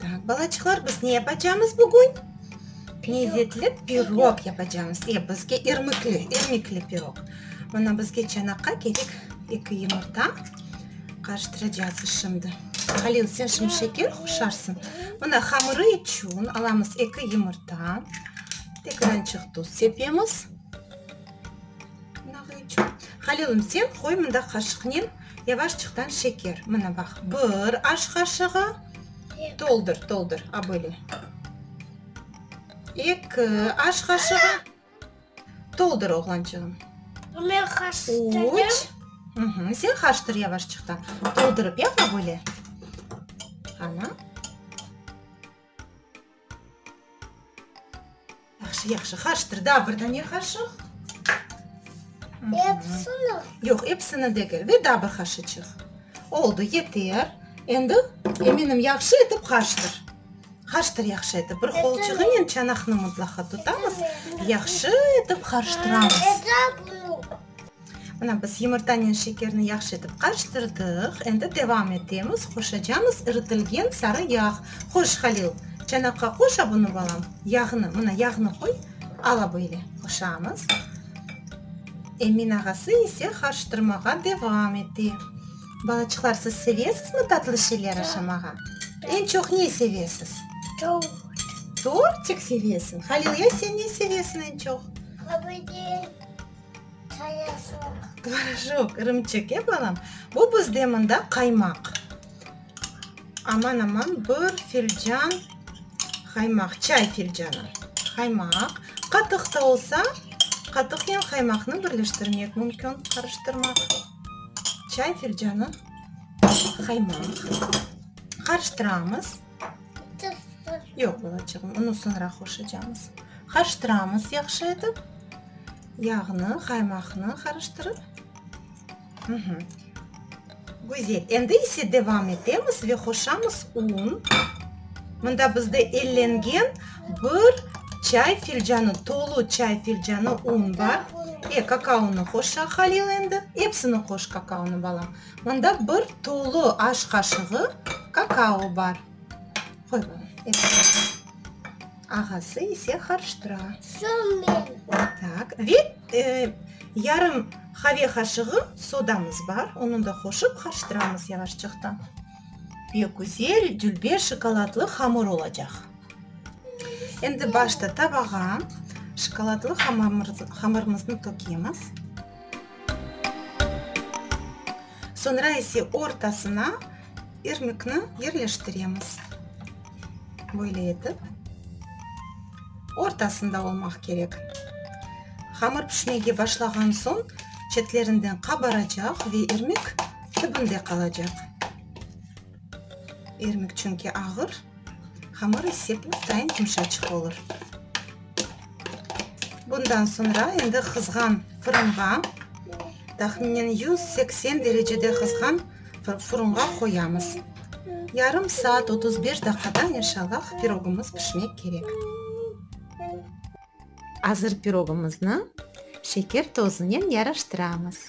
Taaq, balaçıqlar, biz ne yapacamız bugün? Lezzetli pirog yapacamız. E, bizge irmikli, irmikli pirog. Mına bizge çanaqqa kerek eki yumurta. Qarıştıracağız şimdi. Halil, sen şimdi şeker qoşarsıñ. Mına hamırı içün alamız eki yumurta. Tek birançıq tuz sepemiz. Halilım, sen qoy mında qaşıqnen yavaşçıqtan şeker. Mına baq, bir aş qaşığı, toldur, toldur, a böyle, eki aş qaşığı, toldur, oğlançığım, üç, sen qarıştır yavaşçıqtan, toldurıp yap, a böyle, ana. Yahşı-yahşı, qarşıtır, daa bir dane qaşıq. Epsini? Yoq, epsini degil, ve daa bir qaşıçıq. Oldu, yeter. Endi, eminim, yahşı etip qarşıtır. Qarşıtır yahşı etip, bir qolçuğınen çanaqnı mıtlaqa tutamız, yahşı etip qarşıtıramız. Ete bunu. Mına, biz yumurtanen şekerni yahşı etip qarıştırdıq. Endi devam etemiz. Qoşacamız iritilgen sarı yağ. Qoş, Halil. Çanaqqa qoşa bunı, balam. Yağnı, mına, yağnı qoy. Ala böyle. Qoşamız. Emin ağası ise qarıştırmağa devam ete. Balaçıqlar, siz sevesizmi tatlı şeyler aşamağa? Eñ çoq ne sevesiz? Tort. Tortik sevesiñ. Halil, ya sen ne sevesiñ eñ çoq? Qırmızı. Tvoraşok. Tvoraşok, irimçik, e, balam? Bu bizde mında qaymaq. Aman-aman bir filcan qaymaq, çay filcanı qaymaq. Qatıq ta olsa, qatıqnen qaymaqnı birleştirmek mümkün, qarıştırmaq. Çay filcanı qaymaq. Qarıştıramız. Yoq, balacığım, onı soñra qoşacamız. Qarıştıramız yahşı etip. Yağnı, qaymaqnı qarıştırıp. Güzel. Endi ise devam etemiz ve qoşamız un. Mında bizde ellengen bir çay filcanı, tolu çay filcanı un bar. E, kakaonı qoş, Halil, endi. Epsini qoş, kakaonı, balam. Mında bir tolu aş qaşığı kakao bar. Ağası ise qarıştıra. Ve yarım qave qaşığı sodamız bar, onı da qoşıp qarıştıramız yavaşçıqtan. Pek güzel dülber şokoladlı hamır olacaq. Endi başta tabağa şokoladlı hamırımıznı tökemiz. Soñra ise ortasına irmikni yerleştiremiz. Böyle etip. Ortasında olmaq kerek. Hamır pişmege başlağan soñ çetlerinden qabaracaq ve irmik tübünde qalacaq. İrmik çünki ağır, hamır ise püftayin yumşaçıq olur. Bundan soñra endi qızğan fırınğa, tahminen yüz seksen derecede qızğan fırınğa qoyamız. Yarım saat otuz beş daqada inşallah pirogımız pişmek kerek. Azır pirogımıznı şeker tozunen yaraştıramız.